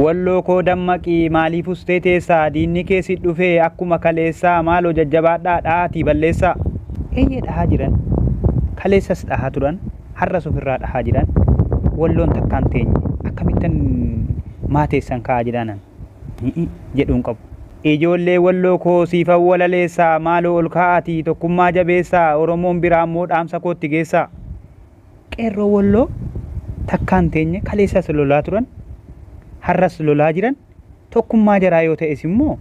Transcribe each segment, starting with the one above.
Walloo koo dammaqi maaliif ustee teessa diinni kee si dhufee akkuma kaleessaa maaloo jajjabaadhaa dhahaatii balleessaa. Eeyyee dhahaa jiran kaleessas dhahaa turan har'as ofirraa dhahaa jiran walloon takkaan teenye akkamittan maa teessan ka'aa jedhaanan hi'i jedhuun qabu. Ijoollee walloo koo siifan walaleessaa maaloo ol ka'aatii tokkummaa jabeessaa oromoon biraammoo dhaamsa koo itti geessaa. Qeerroo Wolloo takkaa hin teenye, kaleessas lolaa turan, har'as lolaa jiran, tokkummaa jaraa yoo ta'es immoo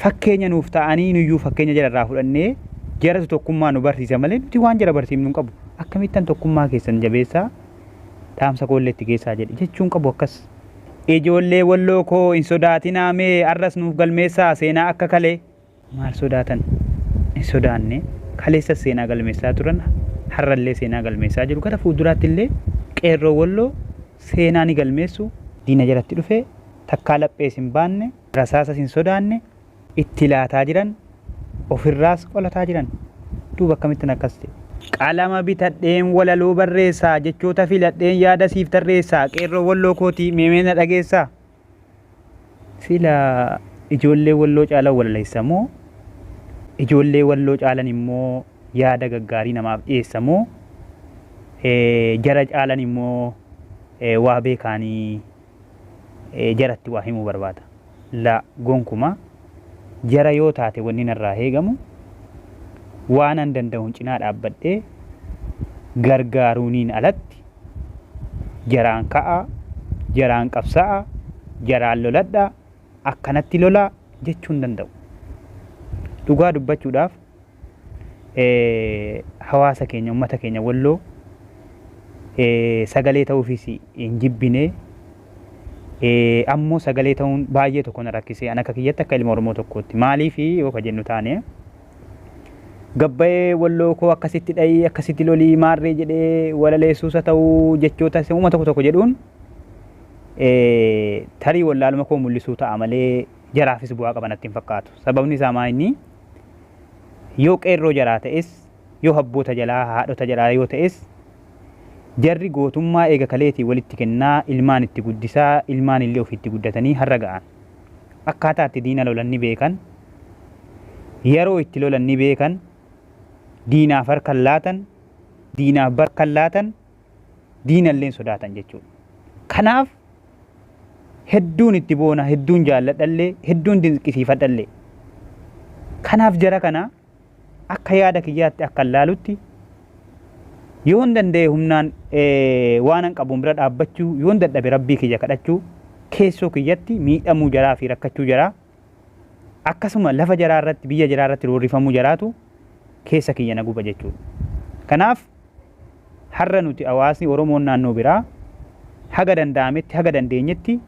fakkeenya nuuf ta'anii nuyyuu fakkeenya jara irraa fudhannee jaratu tokkummaa nu barsiisa malee nuti waan jara barsiifnu hin qabu. Akkamittan tokkummaa keessan jabeessaa dhaamsa koo illee itti geessaa jedhe jechuu hin qabu akkas. Ijoollee Wolloo koo hin sodaatinaa mee har'as nuuf galmeessaa seenaa akka kalee. Maal sodaatan? Hin sodaanne. Kaleessas seenaa galmeessaa turan, har'allee seenaa galmeessaa jiru. Gara fuulduraattillee Qeerroo Walloo seenaa ni galmeessu. Diina jalatti dhufe takkaa laphees hin baanne, rasaasas hin sodaanne, itti laataa jiran, ofirraas qolataa jiran. Duuba akkamittin akkas jedhe? Qalama bitadheen walaloo barreessa, jechoota filadheen yaada siif tarreessa, Qeerroo Walloo kooti mee mee na dhageessaa? Sila ijoollee walloo caalan walaleessa moo ijoollee walloo caalan immoo yaada gaggaarii namaaf dhiyeessa moo jara caalan immoo waa beekaanii jaratti waa himuu barbaada. La gonkumaa jara yoo taate wanni narraa heegamu waanan danda'uun cinaa dhaabbadhee gargaaruuniin alatti Jaraan ka'aa, jaraan qabsa'aa, jaraan loladhaa, akkanatti lolaa jechuu hin danda'u. Dhugaa dubbachuudhaaf hawaasa keenya, ummata keenya Walloo sagalee ta'uufis hin jibbine. Ammoo sagalee ta'uun baay'ee tokko na rakkise. An akka kiyyatti akka ilma Oromoo tokkootti. Maaliif yoo ka jennu taane gabbayee walloo koo akkasitti dhayii akkasitti lolii maarree jedhee walaleessuusa ta'uu jechoota uuma tokko tokko jedhuun tarii wallaaluma koo mul'isuu ta'a malee jaraafis bu'aa qabanatti hin fakkaatu. Sababni isaa maa inni yoo qeerroo jaraa ta'es yoo habboota jalaa haadhota jalaa yoo ta'es jarri gootummaa eega kaleetii walitti kennaa ilmaan itti guddisaa ilmaan illee ofiitti guddatanii har'a ga'an. akkaataa itti diina lolan ni beekan, yeroo itti lolan ni beekan, diinaaf harkan laatan, diinaaf barkan laatan, diinalleen sodaatan jechuudha. Kanaaf hedduun itti boona, hedduun jaalladhallee, hedduun dinqisiifadhallee. Kanaaf jara kana Akka yaada kiyyaatti akkan laalutti yoon danda'e humnaan waanan qabuun bira dhaabbachuu yoon dadhabe rabbii kiyya kadhachuu keessoo kiyyatti miidhamuu jaraa fi rakkachuu jaraa akkasuma lafa jaraa irratti biyya jaraa irratti roorrifamuu jaraatu keessa kiyya na guba jechuudha. Kanaaf har'a nuti hawaasni Oromoon naannoo biraa haga danda'ametti haga dandeenyetti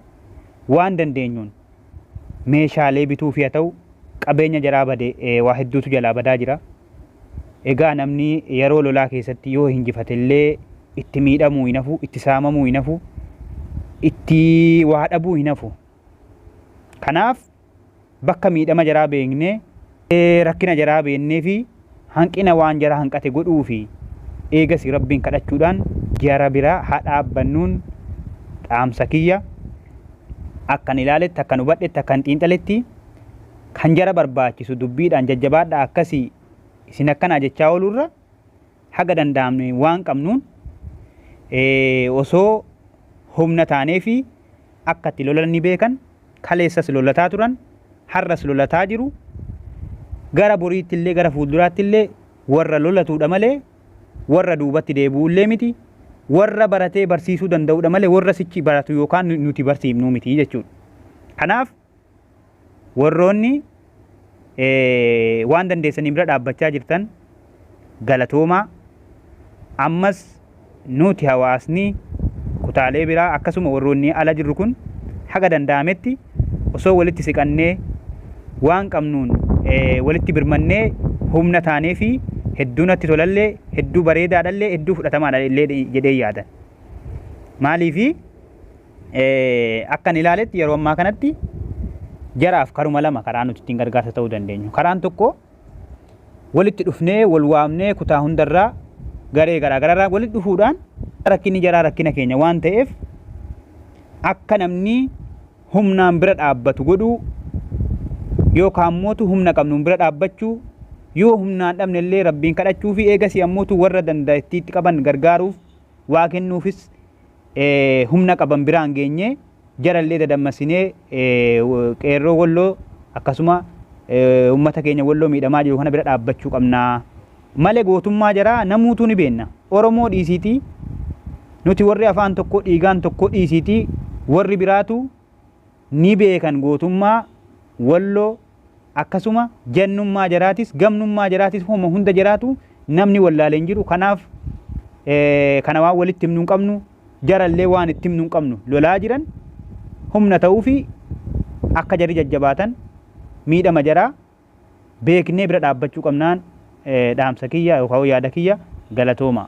waan dandeenyuun meeshaalee bituufi haa ta'u qabeenya jaraa bade waa hedduutu jalaa badaa jira. Egaa namni yeroo lolaa keessatti yoo hinjifate illee itti miidhamuu hin hafu, itti saamamuu hin hafu, itti waa dhabuu hin hafu. Kanaaf bakka miidhama jaraa beeknee rakkina jaraa beennee fi hanqina waan jara hanqate godhuu fi eegasi Rabbiin kadhachuudhaan jara bira ha dhaabbannuun dhaamsa kiyya. Akkan ilaaletti, akkan hubadhetti, akkan xiinxaletti kan jara barbaachisu dubbiidhaan jajjabaadhaa akkasii isin akkanaa jechaa ooluu irra, haga danda'amne waan qabnuun osoo humna taaneefii akka itti lolan ni beekan. Kaleessas lolataa turan, har'as lolataa jiru. Gara boriitti illee gara fuulduraatti illee warra lolatuudha malee warra duubatti deebi'u illee miti. Warra baratee barsiisuu danda'uudha malee warra sichi baratu yookaan nuti barsiifnuu miti jechuudha. Kanaaf Warroonni waan dandeessaniin bira dhaabbachaa jirtan galatoomaa. Ammas nuti hawaasni kutaalee biraa akkasuma warroonni ala jirru kun haga danda'ametti osoo walitti siqannee waan qabnuun walitti birmannee humna taanee fi hedduu natti tolallee hedduu bareedaadhallee hedduu fudhatamaadha illee jedhee yaadan. Maaliifi Akkan ilaaletti yeroo ammaa kanatti jaraaf karuma lama karaa nuti ittiin gargaarsa ta'uu dandeenyu. Karaan tokko walitti dhufnee wal waamnee kutaa hundarraa garee garaa garaarraa walitti dhufuudhaan rakkinni jaraa rakkina keenya waan ta'eef akka namni humnaan bira dhaabbatu godhuu yookaan mootu humna qabnuun bira dhaabbachuu yoo humnaan dhabne illee rabbiin kadhachuu fi eegasii ammootu warra danda'a itti qaban gargaaruuf waa kennuufis humna qaban biraan geenye jarallee dadammasinee qeerroo Wolloo akkasuma ummata keenya Wolloo miidhamaa jiru kana bira dhaabbachuu qabna. Male gootummaa jaraa namuutuu ni beenna. Oromoo dhiisiitii nuti warri afaan tokkoo dhiigaan tokkoo dhiisiitii warri biraatu ni beekan gootummaa Wolloo akkasuma jannummaa jaraatis gamnummaa jaraatis homa hunda jaraatu namni wallaalee hin jiru kanaaf kana waan walitti himnu hin qabnu jarallee waan itti himnu hin qabnu lolaa jiran humna ta'uu fi akka jarri jajjabaatan miidhama jaraa beeknee bira dhaabbachuu qabnaan dhaamsa kiyya yookaan yaada kiyya galatoomaa.